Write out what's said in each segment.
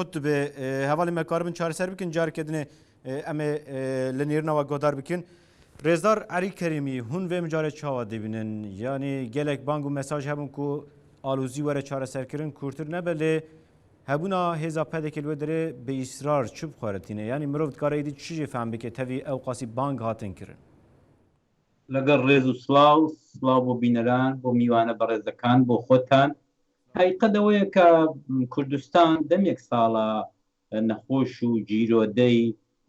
قوتبێ هەواڵی مەکاربن چارەسەر بکن جارکردێ ئەمێ لە نێرنەوە گۆدار بکن ڕێزدار عری کەریمی هون وێ مجارە چاوە دەبینن یانی گەلێک بانگ و مەساژ هەبوون و ئالوزی وەرە چارەسەرکردن کورتتر نەبە لێ هەبوونا هێزا پەدێکی لێ دەرێ بە ئیسرار چ بخوارەتینە ینی مرۆڤ کارەی دی چی فام بکە تەوی ئەو قاسی بانگ هاتن کردن لەگەڵ ڕێز و سلااو سلااو بۆ بینەران بۆ میوانە بەڕێزەکان بۆ خۆتان هەقیقەت ئەوەیە کە کوردستان دەمێک ساڵە نەخۆش و گیرۆدەی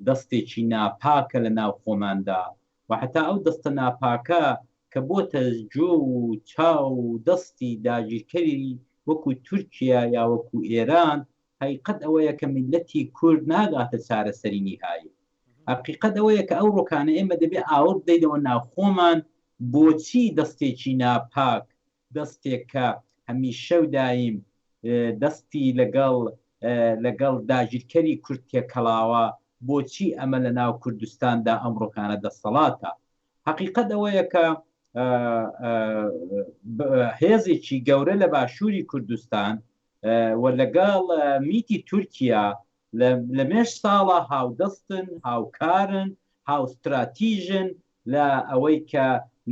دەستێکی ناپاکە لە ناو خۆماندا و هەتا ئەو دەستە ناپاکە کە بۆتە جۆ و چاو و دەستی داگیرکەری وەکو تورکیا یا وەکو ئێران هەقیقەت ئەوەیە کە میللەتی کورد ناگاتە چارەسەری نیهایی. هەقیقەت ئەوەیە کە ئەو ڕۆکانە ئێمە دەبێ ئاوڕ بدەینەوە ناو خۆمان بۆچی دەستێکی ناپاک دەستێک کە هەمیشە و دایم دەستی لەگەڵ لەگەڵ داگیرکەری کورد تێکەڵاوە، بۆچی ئەمە لە ناو کوردستاندا ئەمڕۆکانە دەسەڵاتە؟ هەقیقەت ئەوەیە کە هێزێکی گەورە لە باشووری کوردستان و لەگەڵ میتی تورکیا لە لە مێژ ساڵە هاودەستن، هاوکارن، هاوستراتیژن لە ئەوەی کە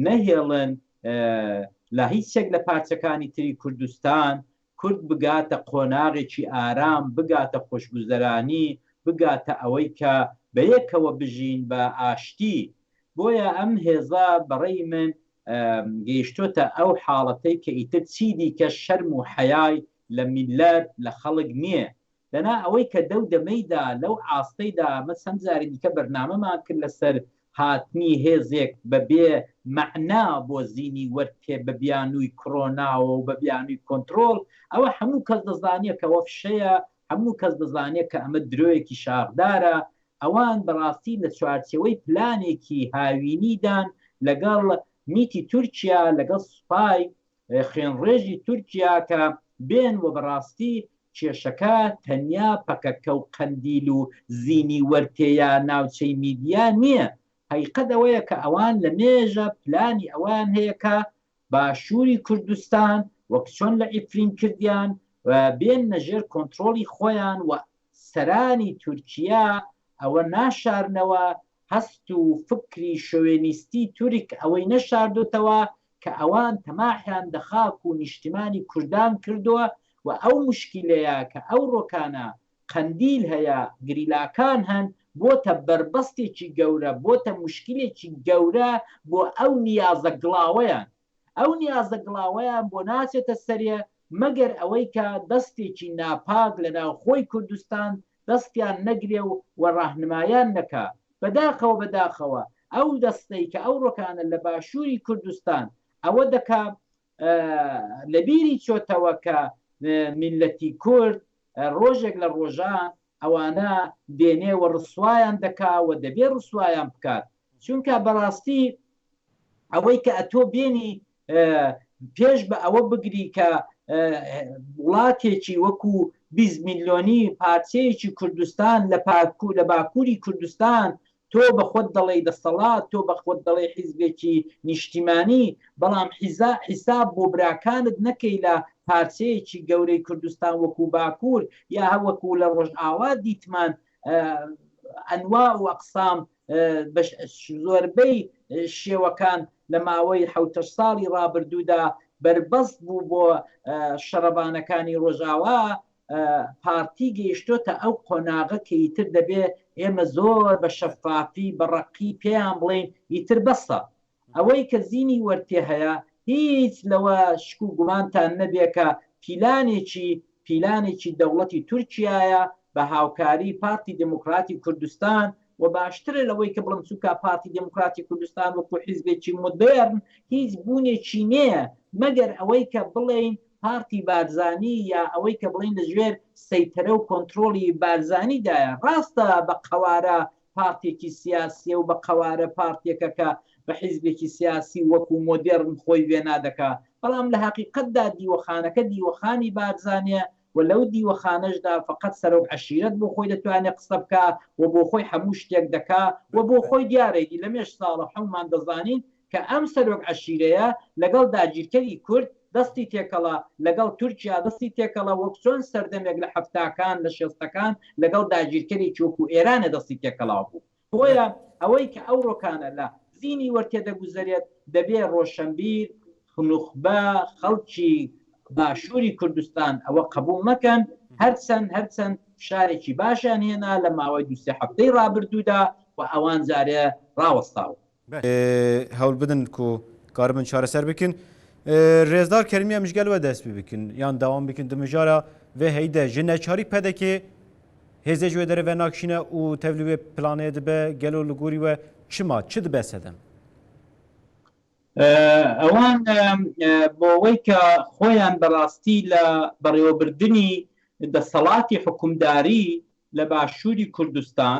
نەهێڵن لە هیچ یەک لە پارچەکانی تری کوردستان کورد بگاتە قۆناغێکی ئارام، بگاتە خۆشگوزەرانی، بگاتە ئەوەی کە بە یەکەوە بژین بە ئاشتی. بۆیە ئەم هێزە بە ڕێی من گەیشتۆتە ئەو حاڵەتەی کە ئیتر چی دیکە شەرم و حەیای لە میللەت، لە خەڵک نییە. دەنا ئەوەی کە دەو دەمەیدا لەو ئاستەیدا ئەمە چەند جاری دیکە بەرنامەمان کرد لەسەر هاتنی هێزێک بە بێ مەعنا بۆ زینی وەرتێ بە بیانووی کرۆناوە و بە بیانووی کۆنترۆڵ ئەوە هەموو کەس دەزانێ کە ئەوە فشەیە هەموو کەس دەزانێ کە ئەمە درۆیەکی شاخدارە ئەوان بە ڕاستی لە چوارچێوەی پلانێکی هاوینیدان لەگەڵ میتی تورکیا لەگەڵ سوپای خوێنڕێژی تورکیا کە بێن و بەڕاستی کێشەکە تەنیا پەکەکە و قەندیل و زینی وەرتێیە ناوچەی میدیا نیە هەیقەت ئەوەیە کە ئەوان لە مێژە پلانی ئەوەیان هەیە کە باشوری کوردستان وەک چۆن لە عفرین کردیان بێننە ژێر کۆنترۆڵی خۆیان و سەرانی تورکیا ئەوە ناشارنەوە هەست و فکری شۆوێنیستی تورک ئەوەی نەشاردۆتەوە کە ئەوان تەماحیان دە خاک و نیشتیمانی کوردان کردوە و ئەو موشکیلەیە کە ئەوڕۆکانە قەندیل هەیە گریلاکان هەن بۆتە بەربەستێکی گەورە بۆتە موشکیلێکی گەورە بۆ ئەو نیازە گڵاوەیان ئەو نیازە گڵاوەیان بۆ ناچێتە سەرێ مەگەر ئەوەی کە دەستێکی ناپاک لە ناوخۆی کوردستان دەستیان نەگرێ و و ڕاهنمایان نەکا. بەداخەوە بەداخەوە ئەو دەستەی کە ئەوڕۆکانە لە باشووری کوردستان ئەوە دەکا لە بیری چۆتەوە کە میللەتی کورد ڕۆژێک لە ڕۆژان ئەوانە دێنێ و ڕسوایان دەکا و دەبێ ڕسوایان بکات چونکا بەڕاستی ئەوەی کە ئەتۆ بێنی پێش بە ئەوە بگری کە وڵاتێکی وەکو بیست میلیۆنی پارچەیەکی کوردستان لە پاکو لە باکووری کوردستان تۆ بە خۆت دەڵێی دەسەڵات تۆ بە خۆت دەڵێی حیزبێکی نیشتیمانی بەڵام حیزا حیساب بۆ براکانت نەکەی لە پارچەیەکی گەورەی کوردستان وەکو باکوور یا هەوەکو لە ڕۆژئاوا دیتمان ئەنواع و ئەقسام بە زۆربەی شێوەکان لە ماوەی حەوتە ساڵی ڕابردوودا بەربەست بوو بۆ شەڕەبانەکانی ڕۆژاوا پارتی گەیشتۆتە ئەو قۆناغە کە ئیتر دەبێ ئێمە زۆر بە شەفافی بە ڕەقی پێیان بڵین ئیتر بەسە ئەوەی کە زینی وەرد تێ هەیە هیچ لەوە شک و گومانتان نەبێ کە پیلانێکی پیلانێکی دەوڵەتی تورکیایە بە هاوکاری پارتی دێمۆکڕاتی کوردستان و باشترە لەوەی کە بڵێم چونکا پارتی دێمۆکڕاتی کوردستان وەکوو حیزبێکی مۆدێرن هیچ بوونێکی نێە مەگەر ئەوەی کە بڵێین پارتی بارزانی یا ئەوەی کە بڵێین لە ژێر سەیتەرە و کۆنتڕۆڵی بارزانی دایە. ڕاستە بە قەوارە پارتێکی سیاسیە و بە قەوارە پارتێکە کە بە حیزبێکی سیاسی وەکو مۆدێڕن خۆی وێنا دەکا، بەڵام لە هەقیقەتدا دیوەخانەکە دیوەخانی بارزانیە و لەو دیوەخانەشدا فەقەت سەرۆک عەشیرەت بۆ خۆی دەتوانێ قسە بکا و بۆ خۆی حەموو شتێک دەکا و بۆ خۆی دیارە ئیدی لەمێژ ساڵە حەومان دەزانین کە ئەم سەرۆک عەشیرەیە لەگەڵ داگیرکەری کورد دەستی تێکەڵە، لەگەڵ تورکیا دەستی تێکەڵە وەک چۆن سەردەمێک لە حەفتاکان لە شێستەکان لەگەڵ داگیرکەرێکی وەکو ئێرانە دەستی تێکەڵاو بوو. بۆیە ئەوەی کە ئەوڕۆکانە لە زینی وەرتێ دەگوزەرێت دەبێ ڕۆشەنبیر، نوخبە، خەڵکی باشوری کوردستان ئەوە قەبوڵ نەکەن، هەرچەند هەرچەند فشارێکی باشیان هێنا لە ماوەی دوو سێ حەفتەی ڕابردوودا و ئەوان جارێ ڕاوەستاون. هەول بدن کو کاربن چارەسەر بکن رێزدار کەرمیە مژگەل وە دەست پی بکن یان داوام بکن دمژارە وێ هەیدە ژە نەچاری پەدەکێ هێزێ جوێ دەرە وە ناکشینە و تەولی وێ پلانێ دبە گەلۆ لگوری وە چما چ دبە سەدەم ئەوان بۆوەی کە خۆیان بەڕاستی لە بەڕێوەبردنی دەسەڵاتی حکومداری لە باشووری کوردستان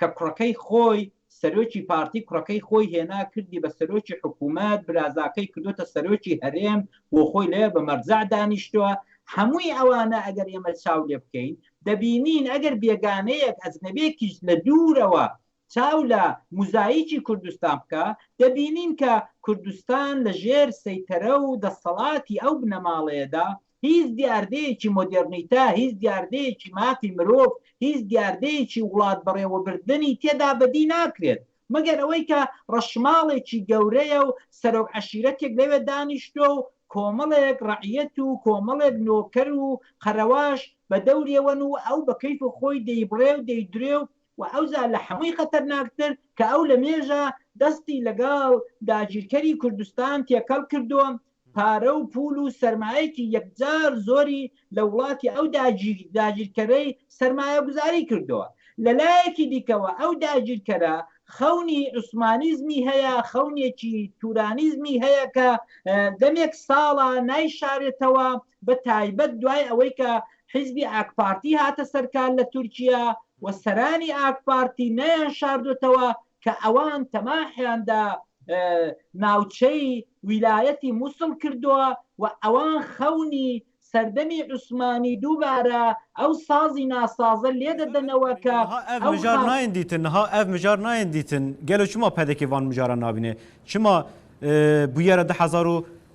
کە کوڕەکەی خۆی سەرۆکی پارتی کوڕەکەی خۆی هێنا کردی بە سەرۆکی حکومەت برازاکەی کردۆتە سەرۆکی هەرێم بۆ خۆی لەوێ بە مەرجەع دانیشتوە هەمووی ئەوانە ئەگەر ئێمە چاو لێ بکەین دەبینین ئەگەر بێگانەیەک ئەجنەبێکیش لە دوورەوە چاو لە موزایکی کوردستان بکا دەبینین کە کوردستان لە ژێر سەیتەرە و دەسەڵاتی ئەو بنەماڵەیەدا هیچ دیاردەیەکی مۆدێرنیتە، هیچ دیاردەیەکی مافی مرۆڤ، هیچ دیاردەیەکی وڵات بەڕێوەبردنی تێدا بەدی ناکرێت، مەگەر ئەوەی کە ڕەشماڵێکی گەورەیە و سەرۆک عەشیرەتێک لەوێ دانیشتووە و کۆمەڵێک ڕەعیەت و کۆمەڵێک نۆکەر و قەرەواش بە دەورێوەن و ئەو بە کەیف خۆی دەیبڕێ و دەیدرێ و ئەوجا لە هەمووی خەتەرناکتر کە ئەو لە مێژە دەستی لەگەڵ داگیرکەری کوردستان تێکەڵ کردووە پارە و پوول و سەرمایەکی یەکجار زۆری لە وڵاتی ئەو داگیرکەرەی سەرمایەگوزاری کردووە. لە لایەکی دیکەوە ئەو داگیرکەرە خەونی عوسمانیزمی هەیە، خەونێکی تورانیزمی هەیە کە دەمێک ساڵە نایشارێتەوە، بە تایبەت دوای ئەوەی کە حیزبی ئاکپارتی هاتە سەرکار لە تورکیا، و سەرانی ئاکپارتی نەیانشاردۆتەوە کە ئەوان تەماحیان دە ناوچەی ویلایەتی موسڵ کردووە و ئەوان خەونی سەردەمی عوسمانی دووبارە ئەو سازی ناسازە لێ دەدەنەوە کە نها ئەڤ ئەو مژار خا. نایێن دیتن، نها ئەڤ مژار نایێن دیتن، گەلۆ چما پەدەکێ ڤان مژاران نابینێ؟ چما بویەرە دە هەزار و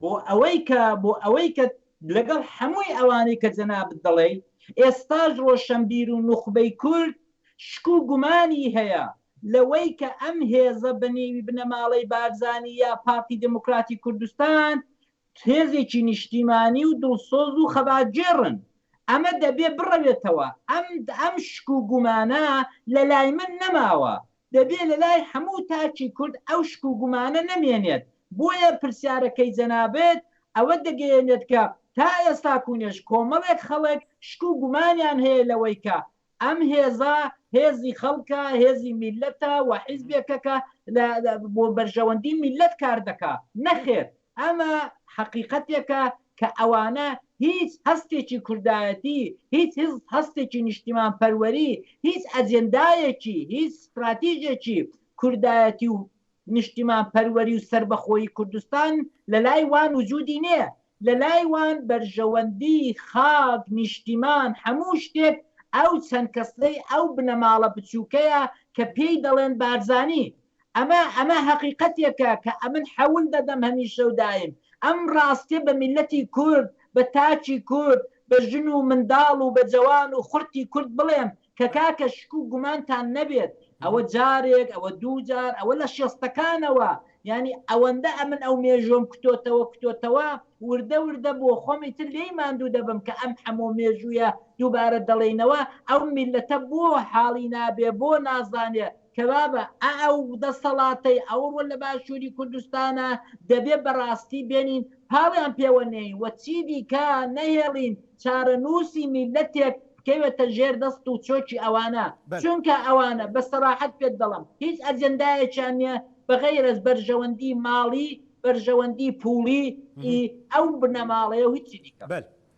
بۆ ئەوەی کە بۆ ئەوەی کە لەگەڵ هەمووی ئەوانەی کە جەنابت دەڵێی ئێستاش ڕۆشەنبیر و نوخبەی کورد شک و گومانی هەیە لە وەی کە ئەم هێزە بە نێوی بنەماڵەی بارزانی یا پارتی دێمۆکراتی کوردستان هێزێکی نیشتیمانی و دڵسۆز و خەباتگێڕن ئەمە دەبێ بڕەوێتەوە ئەم ئەم شک و گومانە لە لای من نەماوە دەبێ لە لای هەموو تاکی کورد ئەو شک و گومانە نەمێنێت، بۆیە پرسیارەکەی جەنابت ئەوە دەگەیەنێت کە تا ئێستاکوونێش کۆمەڵێک خەڵک شک و گومانیان هەیە لەوەی کە ئەم هێزە هێزی خەڵکە، هێزی میللەتە و حیزبێکە کە بۆ بەرژەوەندی میللەت کار دەکا. نەخێر! ئەمە حەقیقەتێکە کە ئەوانە هیچ هەستێکی کوردایەتی، هیچ هەستێکی نیشتیمانپەروەری، هیچ ئەجێندایەکی، هیچ ستراتیژێکی کوردایەتی و نیشتیمانپەروەری و سەربەخۆیی کوردستان لە لای وان وجودی نییە. لە لای وان بەرژەوەندی، خاک، نیشتیمان، هەموو شتێک ئەو چەند کەسەی ئەو بنەماڵە بچووکەیە کە پێی دەڵێن بارزانی. ئەمە ئەمە هەقیقەتێکە کە ئەمن حەول دەدەم هەمیشە و دایم ئەم ڕاستیە بە میللەتی کورد، بە تاکی کورد، بە ژن و منداڵ و بە جەوان و خڕتی کورد بڵێم کە کاکە شک و گومانتان نەبێت ئەوە جارێک ئەوە دوو جار ئەوە لە شێستەکانەوە یانی ئەوەندە ئەمن ئەو مێژوەم کتۆتەوە کتۆتەوە وردە وردە بۆ خۆم ئیتر لێی ماندوو دەبم کە ئەم حەمۆ مێژویە دووبارە دەڵینەوە ئەو میللەتە بۆ حاڵی نابێ بۆ نازانێ کەوابە ئەئەو دەسەڵاتەی ئەوڕۆ لە باشووری کوردستانە دەبێ بە ڕاستی بێنین پاڵیان پێوە نێین و چی دیکە نەهێڵین چارەنووسی میللەتێک بکەوێتە ژێر دەست و چۆکی ئەوانە. چونکە ئەوانە بە سەراحەت پێت دەڵێم هیچ ئەجێندایەکیان نییە بە غەیرەز بەرژەوەندی ماڵی، بەرژەوەندی پووڵی، ی ئەو بنەماڵەیە و هیچی دیکە.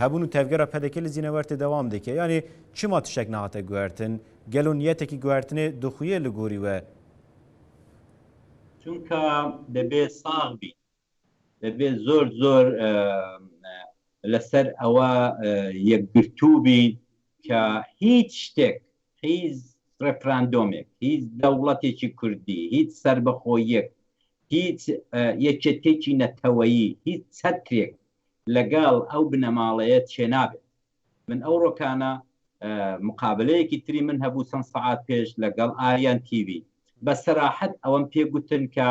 هەبوون و تەڤگەرە پەدەکە لە زینەوەرتە دەوام دەکە یانێ چما تشتێک ناتە گوارتن گەل و نیەتێکی گوارتنێ دخویە لە گۆری وە چونکە دەبێ ساغ بی دەبێ زۆر زۆر لەسەر ئەوە یەکگرتوو بی کە هیچ شتێک هیچ ڕفراندۆمێک هیچ دەوڵەتێکی کوردی هیچ سربەخۆیەک هیچ یەکێتێکی نەتەوەیی هیچ چەترێک لەگەڵ ئەو بنەماڵەیە چێ نابێت من ئەو ڕۆکانە مقابلەیەکی تری من هەبوو چەند سەعات پێش لەگەڵ ئاریان تیوی بە سەراحەت ئەوەم پێ گوتن کە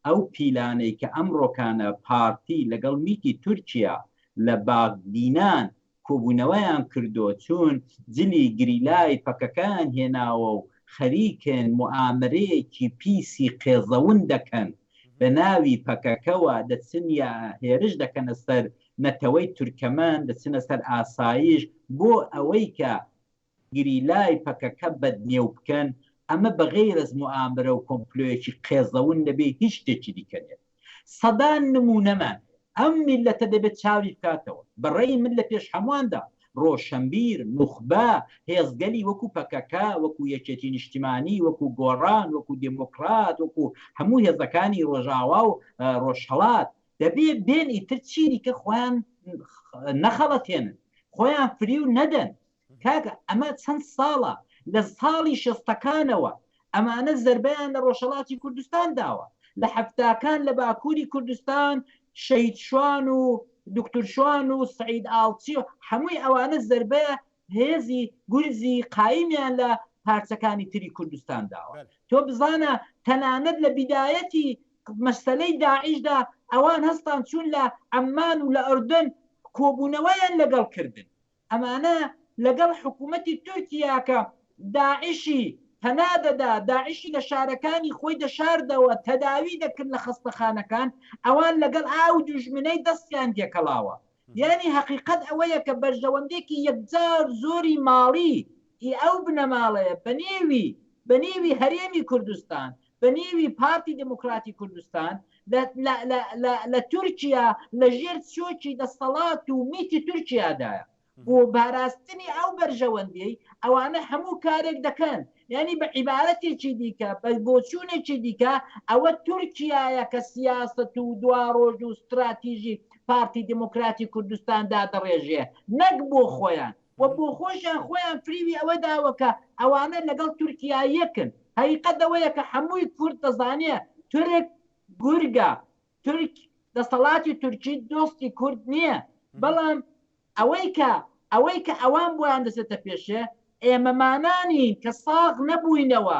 ئەو پیلانەی کە ئەم ڕۆکانە پارتی لەگەڵ میتی تورکیا لە باغدینان کۆبوونەوەیان کردو چوون جلی گریلای پەکەکەیان هێناوە و خەریکن موئامەرەیەکی پیسی قێزەون دەکەن بە ناوی پەکەکەوە دەچن یا هێرش دەکەنە سەر نەتەوەی تورکەمەن دەچنە سەر ئاسایش بۆ ئەوەی کە گریلای پەکەکە بەدنێو بکەن، ئەمە بەغەیرەز موئامرە و کۆمپلۆیەکی قێزەون نەبێ هیچ شتێکی دیکە نیە. سەدان نمونەمان هەیە. ئەم میللەتە دەبێ چاوی بکاتەوە. بە ڕەئی من لە پێش هەمواندا، ڕۆشەنبیر، نوخبە، هێزگەلی وەکو پەکەکە، وەکو یەکێتی نیشتیمانی، وەکو گۆڕان، وەکو دێمۆکڕات، وەکو هەموو هێزەکانی ڕۆژاوا و ڕۆژهەڵات، دەبێ بێن ئیتر چیدیکە خۆیان نەخەڵەتێنن، خۆیان فریو نەدەن. کاکە ئەمە چەند ساڵە لە ساڵی شەستەکانەوە ئەمانە زەربەیان لە ڕۆژهەڵاتی کوردستان داوە لە حەفتاکان لە باکووری کوردستان شەید شوان و دکتور شوان و سعید ئاڵچی و هەمووی ئەوانە زەربە هێزی گورزی قایمیان لە پارچەکانی تری کوردستان داوە تۆ بزانە تەنانەت لە بدایەتی مەسلەی داعیشدا ئەوان هەستان چوون لە ئەممان و لە ئەردەن کۆبوونەوەیان لەگەڵ کردن ئەمانە لەگەڵ حکوومەتی تورکیا کە داعشی پەنا دەدا، داعشی لە شارەکانی خۆی دەشاردەوە، تەداوی دەکرد لە خەستەخانەکان، ئەوان لەگەڵ ئاو دوژمنەی دەستیان تێکەڵاوە. یانی هەقیقەت ئەوەیە کە بەرژەوەندێکی یەکجار زۆری ماڵی ی ئەو بنەماڵەیە بە نێوی بە نێوی هەرێمی کوردستان بە نێوی پارتی دیموکراتی کوردستان لە لە لە لە لە تورکیا لە ژێر چۆکی دەستەڵات و میتی تورکیادایە بۆ باراستنی ئەو بەرژەوەندیەی ئەوانە هەموو کارێک دەکەن یانی بە عیبارەتێکی دیکە بە بۆچوونێکی دیکە ئەوە تورکیایە کە سیاست و دوا ڕۆژ و ستراتیژی پارتی دیموکراتی کوردستان دادەڕێژێ نەک بۆ خۆیان و بۆخۆشیان خۆیان فریوی ئەوە داوە کە ئەوانە لەگەڵ تورکیا یەکن، هەقیقەت ئەوەیە کە حەمووی کورد دەزانێ تورک گورگە، تورک دەسەڵاتی تورکی دۆستی کورد نییە، بەڵام ئەوەی کە ئەوەی کە ئەوان بۆیان دەچێتە پێشێ، ئێمەمانانین کە ساغ نەبووینەوە